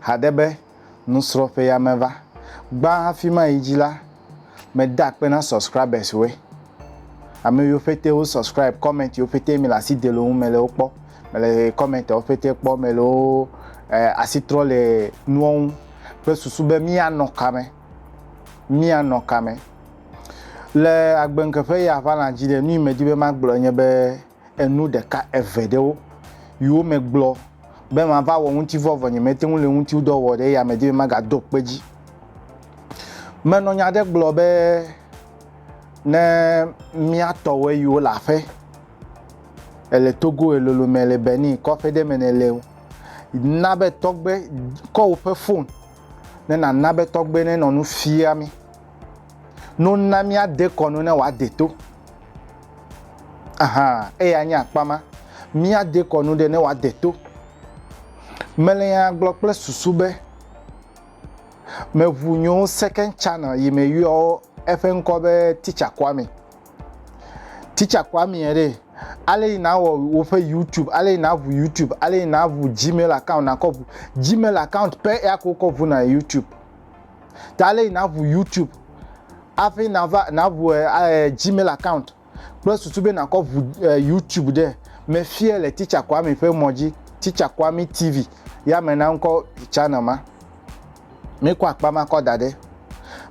Haɖe be nusrɔ̃ƒea meva gbã hafi mayi dzi la, meda akpe na subscribers woe. Ame yiwo ƒete wo subscribe, comment yiwo ƒete mele asi de le wo ŋu mele wo kpɔ, mele comment wo ƒete kpɔ, mele wo eh, asi trɔ le nuwo ŋu kple susu be míanɔ kame, míanɔ kame. Le agbeŋkeƒe ya ʋãla dzi ɖe, nu yi medi be magblɔ nye be, enu ɖeka eve ɖe wo yiwo me gblɔ be mava wɔ ŋutivɔ vɔ nyemete ŋu le ŋutiwdɔ wɔ ɖe ya me di be magado kpe dzi. Menɔ nya ɖe gblɔ be ne mía tɔwɔe yiwo le aƒe ele Togo elolo me le Benin kɔƒe ɖe me ne le o na be tɔgbe kɔ woƒe fon ne nana be tɔgbe ne nɔ nu fia mi. no na míade kɔ no ne wòade to. Aha, eya nye akpa ma. Míade kɔ no ɖe ne wòade to. Mele nya gblɔ kple susu be meʋu nyo Second Channel yi me yɔ eƒe ŋkɔ be Teacher Kwame. Teacher Kwame ɖe, ale yi nawɔ woƒe YouTube, ale yi naʋu YouTube, ale yi naʋu Gmail account nakɔ ʋu. Gmail account pɛ eya ko wokɔ ʋuna YouTube. ta ale yi naʋu youtube afi nava naʋu eh, eh, gmail account kple susu be nakɔ ʋu eh, youtube ɖe mefie le teacher kwami ƒe mɔ dzi teacher kwami tv ya me na ŋkɔ channel ma mekɔ akpa ma kɔ da ɖe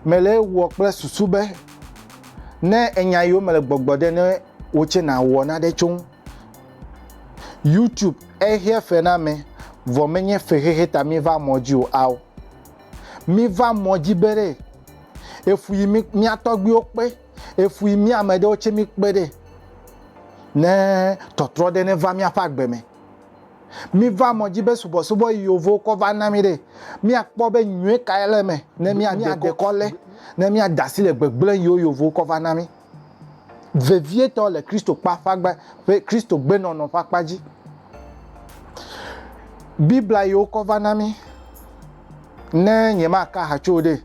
mele wɔ kple susu be ne enya yiwo mele gbɔgbɔ ɖe ne wotse na wɔ na ɖe tso youtube ehia fe na me vɔ menye fexexe ta mi va mɔ dzi o ao Miva mɔ dzi be ɖe efu yi mi mía tɔgbuiwo kpe efu yi mía ame ɖewo tse mi kpe ɖe ne tɔtrɔ ɖe ne va míaƒe agbe me. Miva mɔ dzi be subɔsubɔ yi yovowo kɔ va na mi ɖe míakpɔ be nyuie kae le eme ne mía dekɔ le ne mía dasi le gbegblẽ yiwo yovowo kɔ va na mi. vevietɔ le Kristo kpa ƒe agba ƒe Kristo gbenɔnɔ ƒe akpa dzi. Biblia yi wokɔ va na mi. Ne nyemaka ha tso ɖe,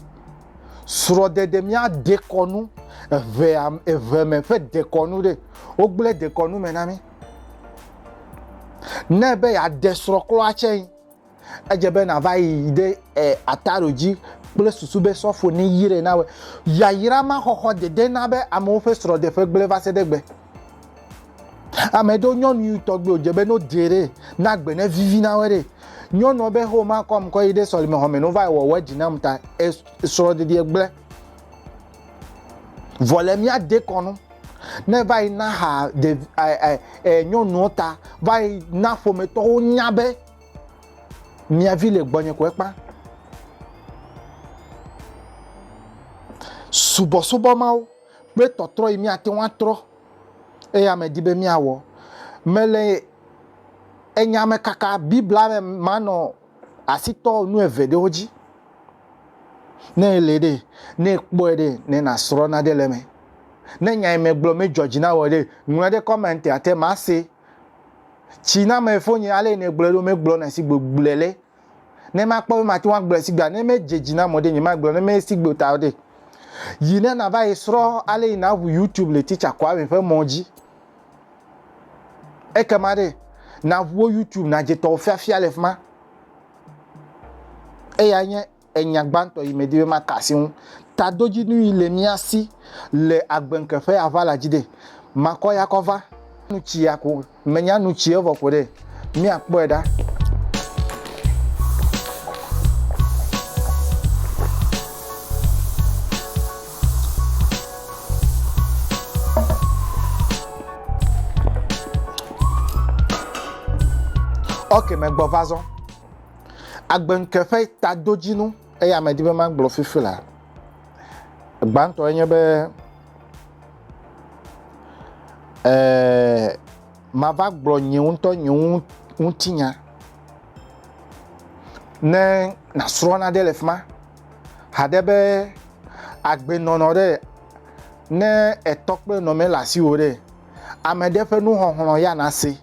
srɔ̃ɖeɖe mía dekɔnu eve eve me ƒe dekɔnu ɖe, wogblẽ dekɔnu me na mi. Ne be yeaɖe srɔ̃ klɔa tsɛ. edze be nàva yi ɖe e, ataro dzi kple susu be sɔfo ne yire na wɔ. Yayra ma xɔxɔ dede na be amewo ƒe srɔ̃ɖeƒe gblẽ va se ɖe gbe. Ame ɖewo nyɔnu tɔgbe wòdze be no de ɖe na gbe ne vivi na wɔ ɖe. Nyɔnua be ho ma kɔm kɔ yi ɖe sɔlime xɔ me no va wɔ wɔ dzi nam ta e, srɔ̃ɖeɖe gblẽ. Vɔ le mía de kɔnu ne va yi na ha de e, e, e, nyɔnuwo ta va yi na ƒometɔwo nya be Mia vi le gbɔnye ko ekpa. Subɔsubɔ Mawu kple tɔtrɔ yi míate ŋu atrɔ eya medi be míawɔ. Mele enya me kaka Biblia me manɔ asi tɔ nu eve ɖewo dzi. Ne èlée ɖe, ne èkpɔe ɖe, ne nàsrɔ̃ nane ɖe eme. Ne nya yi megblɔ medzɔ dzi na wò ɖe, ŋlɔe ɖe kɔmɛntia te mase. Tsi na me fonye ale ne gblɔe ɖo me gblɔ na si gbe gblɔe le. Ne ma kpɔ be ma ti wa gblɔe si gbe ne me dze dzi na mɔ ɖe nye ma gblɔ ne me si gbe ta ɖe. Yi ne na va yi srɔ ale yi na ʋu YouTube le teacher kɔ ame ƒe mɔ dzi. Eke ma ɖe na ʋuo YouTube na dze tɔ fiafia le fima. Eya nye enya gbãtɔ yi medi be maka asi ŋu. Tadodzinu yi le mía si le agbeŋke ƒe aʋala dzi ɖe, makɔ ya kɔ va. Nu tsi ya ko menya nu tsi evɔ ko ɖe, míakpɔe ɖa. Ok, megbɔ va zɔ. Agbeŋke ƒe tadodzinu eya medi be magblɔ fifi la. Gbãtɔ enye be eh, mava gblɔ nye ŋutɔ nye ŋutinya ne nasrɔ̃ naɖe le fi ma haɖe be agbenɔnɔ ɖe ne etɔ kple nɔme le asiwò ɖe ame ɖe ƒe nuxɔxlɔ ya nase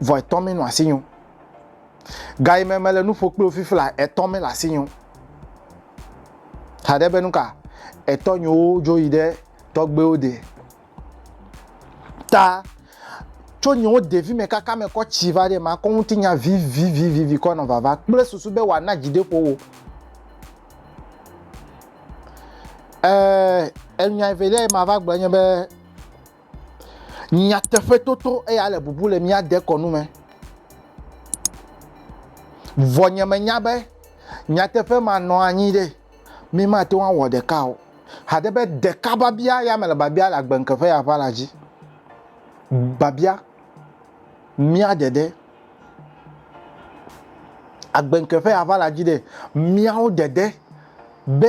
vɔ etɔ mi nɔ asi nyo. Gayi me mele nuƒo kpli ofifi la etɔ mi le asi nyo. Haɖe be nuka etɔ nyowo dzo yi ɖe tɔgbewo de. Ta tso nyowo devi me kaka me kɔ tsi va ɖe ma kɔ ŋuti nya vivivivivi kɔ nɔ vava kple susu be wòa na dzideƒo wo. Ɛɛ, enyai velia yi ma va gblɔ nye be. Nyateƒe toto eya le bubu le mía dekɔnu me. Vɔ nye me nya be nyateƒe ma nɔ anyi ɖe mi ma te wɔn wɔ ɖeka o. Hade be ɖeka babia ya me le babia le agbenke ƒe yaƒa la dzi. Babia mía ɖeɖe. Agbenke ƒe yaƒa la dzi ɖe miawo ɖeɖe be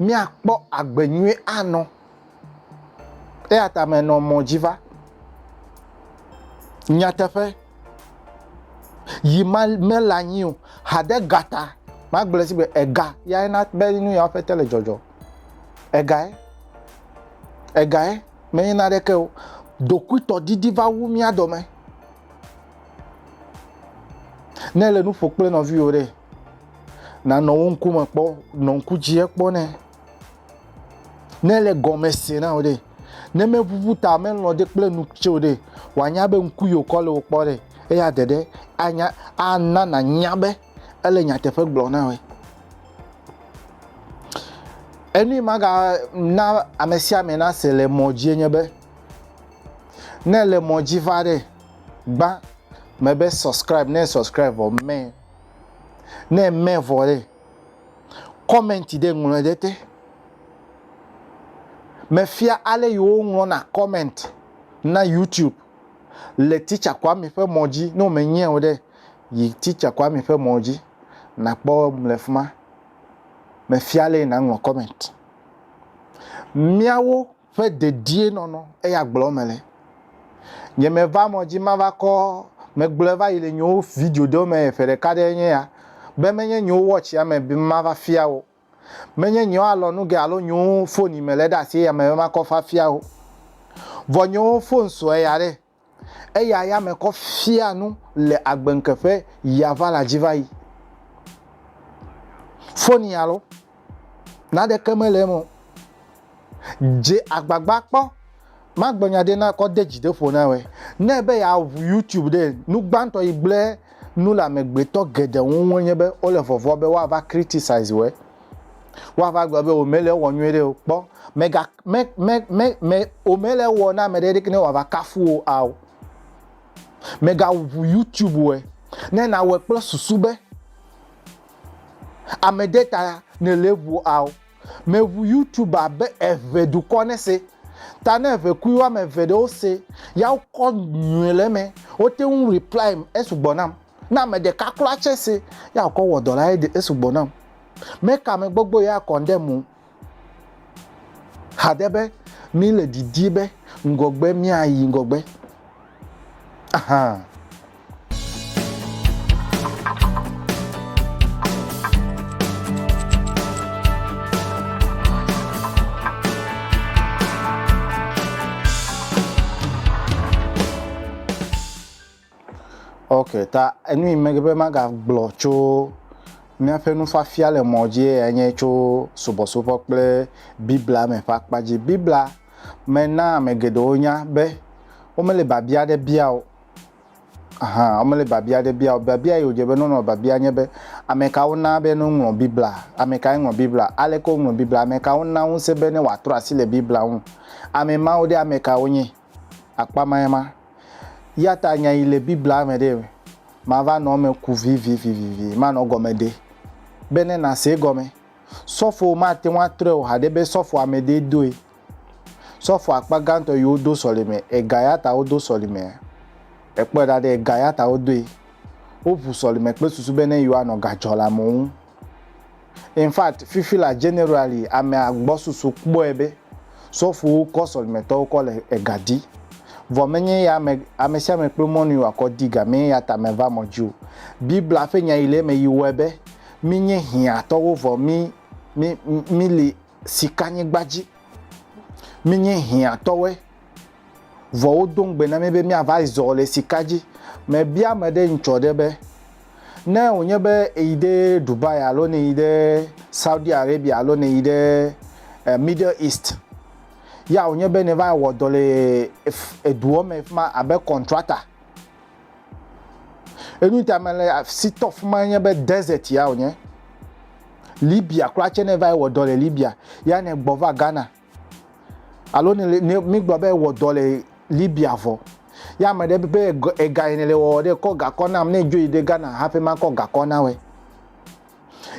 míakpɔ agbe nyui anɔ. Eya ta menɔ mɔ dzi va. Nyateƒe, yi ma mele anyi o. Hade ga ta, magblɔ si be ega yae na be nu yawo ƒete le dzɔdzɔ. Egae, egae menye naneke o. Ɖokuitɔdidi va wu mía dɔme. Ne èle nu ƒo kple nɔviwò ɖe, Nanɔ wo ŋkume kpɔ, nɔ ŋku dzie kpɔ nɛ. Ne ele gɔme se na wò ɖe, ne meʋuʋu ta melɔ̃ ɖe kple nu tse o ɖe, wòanya be ŋku yi wòkɔ le wò kpɔ ɖe, eya de ɖe anya ana nànya be ele nyateƒe gblɔ na wòe. Enu yi magana ame sia ame nase le mɔ dzie nye be, ne ele mɔ dzi va ɖe, gbã mebe subscribe, ne subscribe vɔ mɛ. Ne eme vɔ ɖe, kɔmɛnti ɖe ŋlɔe ɖe te. Mefia ale yi woŋlɔna kɔmɛnti na YouTube le Teacher Kwame ƒe mɔ dzi. Ne wòmenyɛ o ɖe, yi Teacher Kwame ƒe mɔ dzi nàkpɔ eŋu le fi ma. Mefia ale yi nàŋlɔ kɔmɛnti. Míawo Ƒe dedienɔnɔ, eya gblɔ eme le. Nye me va mɔ dzi mava kɔ, me gblɔɛ va yi le nyewo video ɖewo me ƒe ɖeka ɖee nye ya, be menye nyewo watch ya me be mava fia wo. Menye nyewo alɔ nu ge alo nyewo phone yi me le ɖe asi eya me be makɔ va fia wo. Vɔ nyewo phone sɔe ya ɖe. Eya ya me kɔ fia nu le agbenke ƒe ya va la dzi va yi. Foni alo naɖeke mele eme o. Dze agbagba kpɔ magblɔ nya ɖe na kɔ de dzi de ƒo na wɛ. Ne ebe ya ʋu YouTube ɖe, nu gbãtɔ yi gblẽ nu le amegbetɔ geɖe ŋu ŋu enye be wole vɔvɔa be woava criticize wɛ. Woava gblɔ be wòmele ewɔ nyuiɖe o. Kpɔ, mèga, me, me, me, me, wòmele ewɔ na ame ɖe ɖeke ne wòava kafu wò ao. Mègaʋu YouTube wɔe ne nàwɔe kple susu be ame ɖe ta nèle ʋu ao. Mèʋu YouTube abe eŋe dukɔ nese ta ne ŋekui woame eve ɖewo se ya wokɔ nyuie le eme. Wote ŋu reply esugbɔ nam. Na ame ɖeka klɔ atse se ya wòkɔ wɔ dɔ la ede esugbɔ nam. Meka me gbɔgbɔ ya kɔn ɖe mo hade be mi le didi be ŋgɔgbe mia yi ŋgɔgbe. Ahan. Ok, ta enu yi megbe be magagblɔ tso míaƒe nufiafia le mɔ dzi eyae nye tso subɔsubɔ kple Biblia me ƒe akpa dzi. Biblia me na ame geɖewo nya be womele biabia aɖe bia o. Aha, womele biabia aɖe bia o. Biabia yi wodze be ne wonɔ biabia nye be, ame ka wona be ne woŋlɔ Biblia? Ame kae ŋlɔ Biblia? Aleke woŋlɔ Biblia? Ame ka wona ŋusẽ be ne wòatrɔ asi le Biblia ŋu? Ame mawo ɖe, ame kae wonye? Akpa mae ma. Eya ta nya yi le Biblia me ɖee, Mava nɔ eme ku vivivivivi, manɔ gɔme ɖe, be ne nàse egɔme. Sɔfo mate ŋu atrɔe o haɖe be sɔfo amedee doe. Sɔfo akpa gãtɔ yi wodo sɔlime, ega ya ta wodo sɔlimea? Èkpɔe ɖa ɖe, ega ya ta wodoe. Woʋu sɔlime kple susu be ne yewoanɔ ga dzɔlamewo ŋu. In fact, fifi la generally amea gbɔsusu kpɔe be sɔfowo kɔ sɔlimetɔwo kɔ le ega di. Vɔ menye eya ame amesiame kple mɔnu yi wòakɔ di ga mee eyata meva mɔ dzi o. Biblia ƒe nya yi le eme yi wɔe be mínye hiãtɔwo vɔ mí mí mí li sikanyigba dzi. Mínye hiãtɔwoe. Vɔ wodo ŋugbe na mí be míava zɔ le sika dzi. Mebia ame ɖe ŋtsɔ ɖe be, ne wònye be èyi ɖe Dubai alo nèyi ɖe Saudi Arabia alo nèyi ɖe Middle East ya wònye be nèva wɔ dɔ le eduɔ me fi ma abe kɔntrata, enu ta mele asi tɔ fi ma nye be desert ya wònye. Libya kura tsɛ ne èva yi wɔ dɔ le Libya ya nègbɔ va Ghana. Alo ne le ne mígblɔ be wɔ dɔ le Libya vɔ. Ye ame ɖe be ega yi ne le wɔwɔ ɖe kɔ gakɔ nam ne dzo yi ɖe Ghana hafi makɔ gakɔ na wɛ.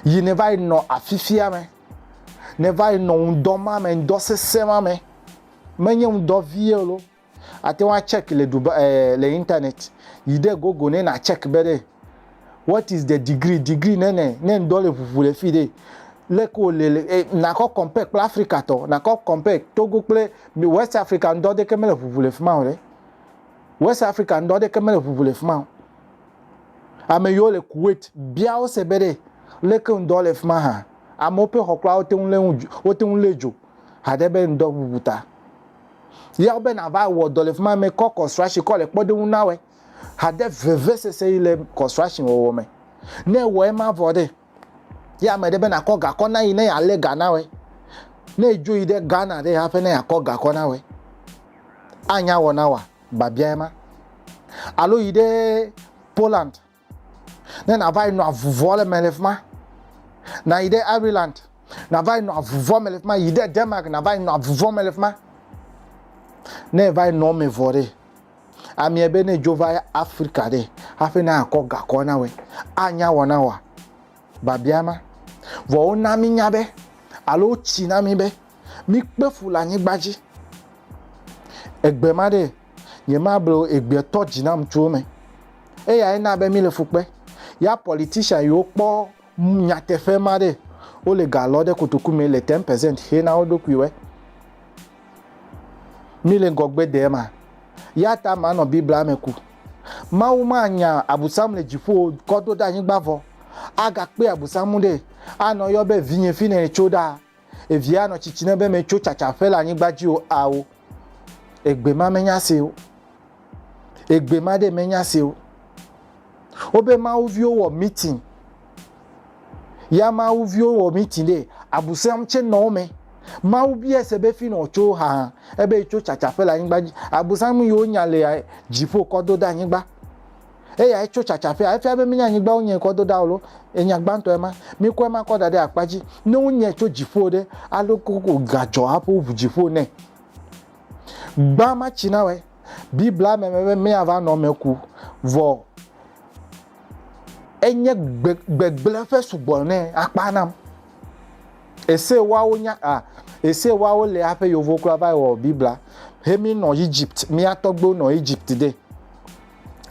Yi ne va yi nɔ afifia me. Ne va yi nɔ ŋdɔ ma me, ŋdɔ sesẽ ma me. Menye ŋdɔ vie o lo. Ate ŋu a check le Dubai ɛɛ le internet. Yi ɖe Google ne na check be ɖe what is the degree, degree ne ne ne ŋdɔ le ʋuʋu le fi ɖe, leke wo le le e na kɔ compare kple Africa tɔ, na kɔ compare Togo kple mi West Africa ŋdɔ ɖeke me le ʋuʋu le fima o ɖe. West Africa ŋdɔ ɖeke me le ʋuʋu le fima o. Ame yiwo le Kuwait bia wo se be ɖe leke ŋdɔ le fima hã. Amewo ƒe xɔ kura wote ŋu le ŋu dzo wote ŋu le dzo. haɖe be ŋdɔ ʋuʋu ta. Ya wobe nava wɔ dɔ le fi ma mekɔ construction kɔ le kpɔɖeŋu na wɔe. Haɖe vevesese yi le construction wɔwɔ me. Ne ewɔ ema vɔ ɖe, ya ame ɖe be nakɔ gakɔ na yi ne yealé ga na wɔe. Ne edzo yi ɖe Ghana ɖe haƒe ne yeakɔ gakɔ na wɔe. Anya wɔ na wɔa? Babia ema. Alo yi ɖe Poland. ne nàva yi nɔ avuvɔ le me le fi ma, nàyi ɖe Ireland, nàva yi nɔ avuvɔ me le fi ma, yi ɖe Denmark, nàva yi nɔ avuvɔ me le fi ma. Ne èva yi nɔ me vɔ ɖe, amea be ne dzo va Afrika ɖe, hafi ne akɔ gakɔ na wɔ, anya wɔ na wòa? Biabia ma. Vɔ wona mí nya be, alo wotsi na mí be, míkpe fu le anyigba dzi. Egbe ma ɖe, Nyemable o, egbea tɔ dzi nam tso eme. Eyae na be míle fu kpe. Ya politician yiwo kpɔ nyateƒe ma ɖe, wole ga lɔ ɖe kotoku me le 10% xe na wo ɖokuiwoe. Míle ŋgɔgbe dee ma. Ya ta manɔ Biblia me ku. Mawu manya Abusam le dziƒo o kɔ do ɖe anyigba vɔ. Agakpe Abusam ɖe, anɔ yɔ be vinye fine nètso ɖaa. Evia nɔ tsitsi ne be metso tsatsa ƒe le anyigba dzi o ao. Egbe ma menya se o. Egbe ma ɖe menya se o. Wobe mawu viwo wɔ meeting. Ya mawu viwo wɔ meeting ɖe abusam tse nɔ wo me. Mawu bia se be fi nɔ tso ha ebe tso tsatsa ƒe le anyigba dzi. Abusam yiwo nya le dziƒo kɔ do ɖe anyigba. Eyae tso tsatsaƒea. Efia be míenya anyigba wonyae kɔ do ɖa o lo. Enya gbãtɔ ema. Mikɔ ema kɔ da ɖe akpa dzi. Ne wonyae tso dziƒo ɖe, ale gbogbo gadzɔ hafi woʋu dziƒo nɛ. Gbã ma tsi na wɔe. Biblia me be míava nɔ eme ku. Vɔ enye gbegblẽ ƒe sugbɔ nɛ akpa nam. Ese woawo nya a ese woawo le aƒe yovo kura va wɔ Biblia. He mi nɔ Egypt, mía tɔgbuiwo nɔ Egypt de.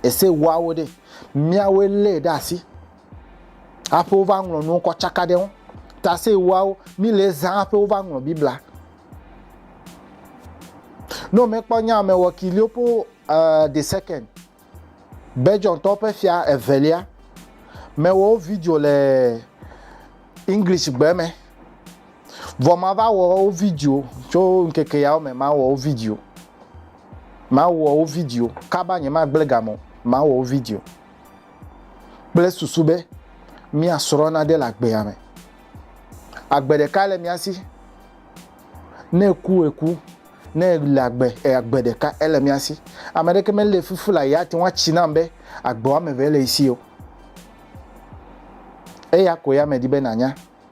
Ese woawo ɖe, míawoe lée ɖe asi hafi wova ŋlɔ nuwo kɔ tsaka ɖe ŋu. Ta ese woawo, mílee zã hafi wova ŋlɔ Biblia. Ne womekpɔ nya me wɔ Kiliopo uh, eh, the second, Belgiumtɔwo ƒe fia evelia, mewɔ wo video le English gbe me. Vɔ mava wɔ wo video tso ŋkeke yawo me, mawɔ wo video. Mawɔ wo vidio kaba, nyemagblẽ ga me o, mawɔ wo vidio kple susu be míasrɔ̃ nane le agbea me. Agbe ɖeka le mía si. Ne eku, eku. Ne ele agbe, agbe ɖeka ele mía si. Ame ɖeke mele fufu la yeate ŋu atsi nam be agbe woame eve le ye si o. Eya koe ame di be nànya.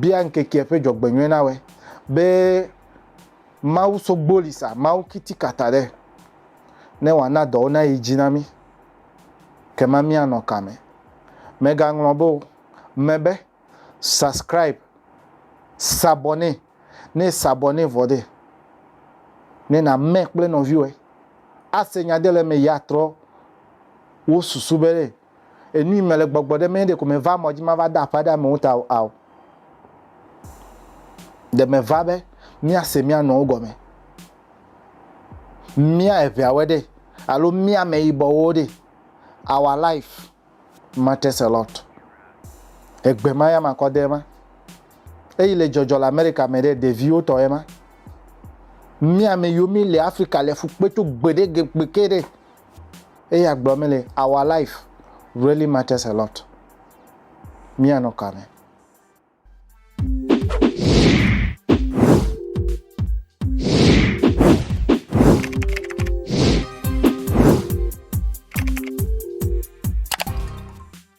bia ŋkekea ƒe dzɔgbenyuie nawɔe be Mawu sogboli sa Mawu kitikata ɖe ne wòana dɔwo nayi dzi na mí. Kema míanɔ ka me? Mègaŋlɔ be o, me be, subscribe, s'abonner, ne s'abonner vɔ ɖe, ne nàme kple nɔviwòe, ase nya ɖe le eme yi atrɔ wo susu be ɖe enui mele gbɔgbɔ ɖe me ɖe ko meva mɔ dzi mava de aƒe aɖe amewo ta o ao. Ɖe meva be míase mía nɔwo gɔme, mía eveawe ɖe alo mía ameyibɔwo ɖe. Our life matters a lot. Egbe ma ya makɔ de ema. Eyi le dzɔdzɔ le Amerika me ɖe ɖeviwo tɔ ema. Mía ame yiwo mi le Afrika le fukpe tso gbe ɖe gbe ke ɖe eye agblɔ mí le our life really matters a lot. Míanɔ kame.